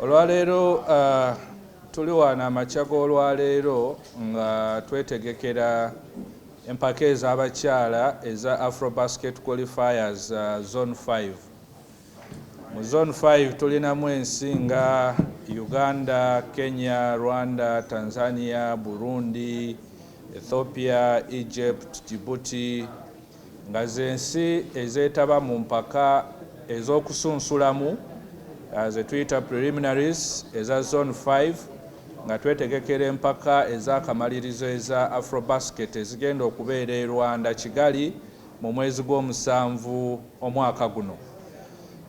olwaleero uh, tuli wano amakya g'olwaleero nga twetegekera empaka ez'abakyala eza afro basket qualifiers uh, zone 5 Mu Zone Five tulinamu ensi nga Uganda, Kenya, Rwanda, Tanzania, Burundi, Ethiopia, Egypt, Djibouti nga z'ensi ezeetaba mu mpaka ez'okusunsulamu ze tuyita preliminaries eza Zone Five nga twetegekera empaka ez'akamalirizo eza Afrobasket ezigenda okubeera e Rwanda, Kigali. Mu mwezi gw'omusanvu omwaka guno.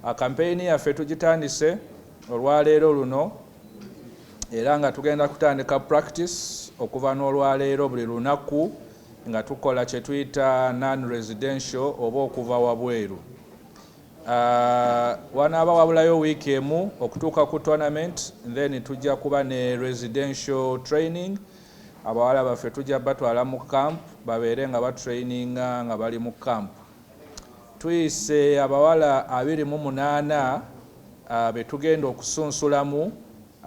Akampeyini yaffe tugitandise olwaleero luno era nga tugenda kutandika practice okuva n'olwaleero buli lunaku nga tukola kye tuyita non residential oba okuva wabweru. Wanaaba wabulayo wiiki emu okutuuka ku tournament then tujja kuba ne residential training. Abawala baffe tujja batwala mu camp babeere nga ba traininga nga bali mu camp. Tuyise abawala abiri mu munaana betugenda okusunsulamu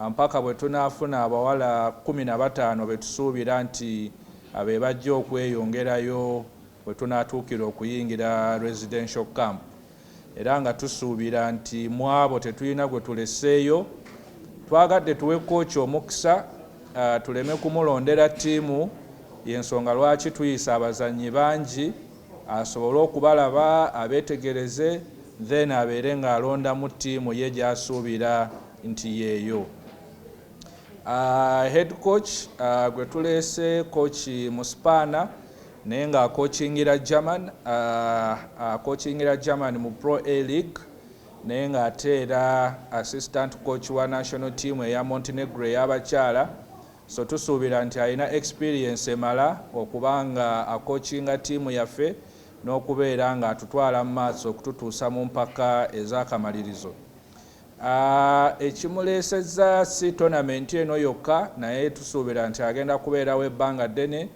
mpaka bwetunafuna abawala kumi na bataano betusuubira nti bebajja okweyongerayo wetunatuukira okuyingira residential camp. era nga tusuubira nti mu abo tetulina gwe tuleseeyo. Twagadde tuwe kooci omukisa tuleme kumulondera ttiimu y'ensonga lwaki tuyise abazannyi bangi asobole okubalaba abeetegereze then abeere ng'alondamu ttiimu ye gy'asuubira nti yeeyo. Uh, head coach uh, gwe tuleese coach Musipaana Naye nga akocingira German, uh, akocingira German mu Pro A League naye nga ate era assistant coach wa national team eya Montenegro eyabakyala so tusuubira nti alina experience emala okuba nga akocinga tiimu yaffe n'okubeera nga atutwala mu maaso okututuusa mu mpaka ez'akamalirizo ah, ekimuleesezza si tonamenti eno yokka naye tusuubira nti agenda kubeerawo ebbanga ddene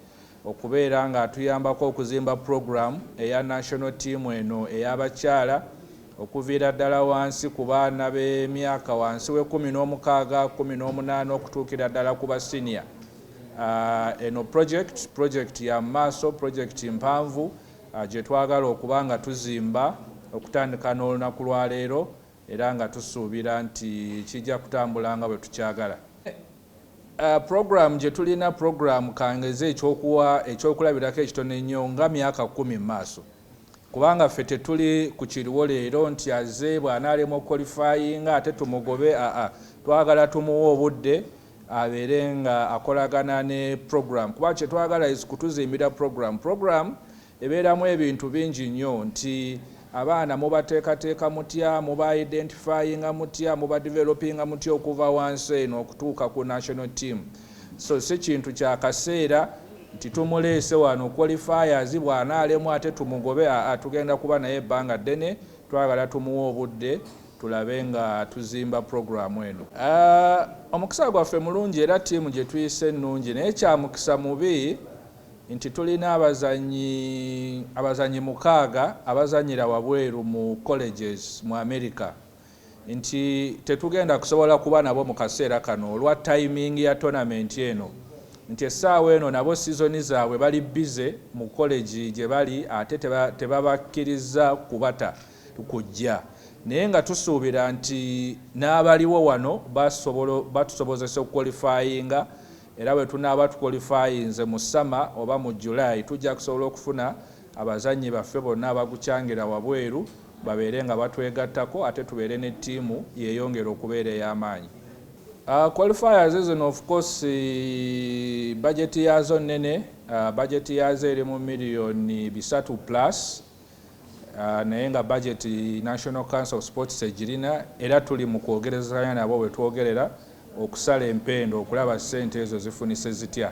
okubeera ng'atuyambako okuzimba pulogulaamu eya National ttiimu eno ey'abakyala okuviira ddala wansi ku baana b'emyaka wansi w'ekkumi n'omukaaga, kkumi n'omunaana okutuukira ddala ku ba siniya. Eno pulojekiti pulojekiti ya mu maaso, pulojekiti mpanvu gye twagala okuba nga tuzimba okutandika n'olunaku lwa leero era nga tusuubira nti kijja kutambula nga bwe tukyagala. Programu gye tulina, programu ka ngeze eky'okuwa ekyokulabirako ekitono ennyo nga myaka kkumi mu maaso, kubanga ffe tetuli ku kiriwo leero nti azze bw'anaalemwa okukolifayinga ate tumugobe, aa, twagala tumuwe obudde abeere nga akolagana ne programu kuba kye twagala is kutuzimbira programu, programu. Ebeeramu ebintu bingi nnyo nti abaana mubateekateeka mutya, muba identifyinga mutya, muba developinga mutya okuva wansi eno okutuuka ku national team. So si kintu kya kaseera nti tumuleese wano qualifiers bw'anaalemwa ate tumugobe aa tugenda kuba naye ebbanga ddene, twagala tumuwe obudde tulabe nga tuzimba pulogulaamu eno. Omukisa gwaffe mulungi era ttiimu gye tuyise nnungi naye kya mukisa mubi nti tulina abazannyi abazannyi mukaaga abazannyira wabweru mu colleges mu Amerika nti tetugenda kusobola kuba nabo mu kaseera kano olwa tayimingi ya tonamenti eno nti essaawa eno nabo sizoni zaabwe bali bbize mu kolegi gye bali ate tebabakkirizza kubata kujja naye nga tusuubira nti n'abaliwo wano batusobozesa okukwolifayinga Era bwe tunaaba tukwolifayinze mu ssama oba mu July, tujja kusobola okufuna abazannyi baffe bonna abagucangira wabweru babeere nga batwegattako ate tubeere ne ttiimu yeeyongere okubeera ey'amaanyi. Qualifiers zino of course bajeti yaazo nnene, bajeti yaazo eri mu miriyoni bisatu plus. Ah, naye nga budget National Council of Sports egirina era tuli mu kwogerezanya nabo wetwogerera okusala empendo okulaba ssente ezo zifunise zitya.